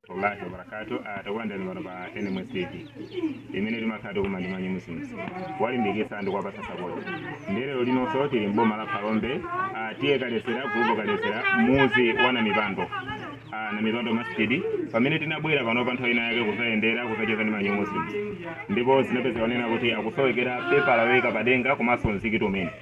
wallahi wabarakatu takulandirani pano pa nms tv imene timakhala tikukumana ndi ma New Muslim kuwalimbikitsa anthu kuwapatsa sapoti ndiye lero linonso tili mboma la phalombe ah, T/A Kaledzera gulupu Kaledzera muzi wa namipando ah, namipando masjidi pamene tinabwera pano pa nthawi ina yake kuzayendera kuzacheza ndi ma New Muslim ndipo tinapeza zonena kuti akusowekera pepala yoyika padenga komanso mzikiti umene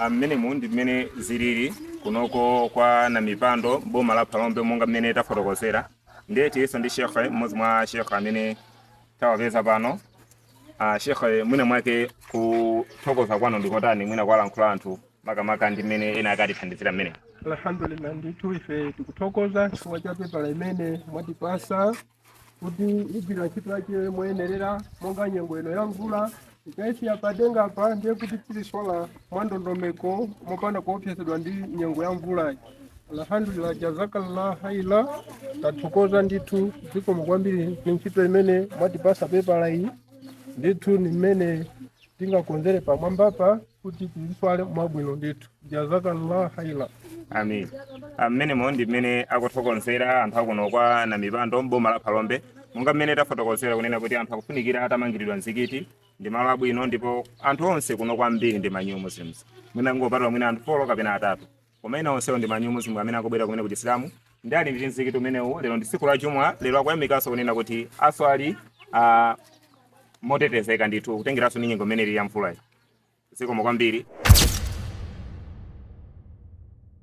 Ah, mmenemu ndi mmene zilili kunoko kwa namipando boma la phalombe monga mmene tafotokozera ndiye tilinso ndi shekhe mmodzi mwa mashekhe amene tawapeza pano ah, shekhe mwina mwake kuthokoza kwanu ndikotani mwina kuwalankhula anthu makamaka ndi mmene ena akutithandizira mmene alhamdulillah ndithu ife tikuthokoza chifukwa cha pepala imene mwatipasa kuti igwira ntchito yake moyenerera monga nyengo ino ya mvula tikaiyika padenga apa ndiye kuti tiziswala mwandondomeko mopanda kuopsezedwa ndi nyengo ya mvulayi alhamdulillah jazakallah khaira tathokoza ndithu zikomo kwambiri ni ntchito imene mwatipasa pepala iyi ndithu ni mmene tingakonzere pamwambapa kuti tiziswala mwabwino ndithu jazakallah khaira amin mmenemo ndi mmene akuthokozera anthu akuno kwa namipando mboma la phalombe monga mmene tafotokozera kunena kuti anthu akufunikira atamangiridwa mzikiti ndi malo abwino ndipo anthu onse kuno kwambiri ndi ma New Muslim mwina kungopatula mwina anthu folo kapena atatu Koma ena onsewo ndi ma New Muslim amene akubwera kumene ku Chisilamu ndiye ali ndi mzikiti umenewu. Lero ndi tsiku la Jumu'ah, lero akuyamikanso kunena kuti aswali motetezeka ndithu kutengeranso ndi nyengo imene ili ya mvulayi. Zikomo kwambiri.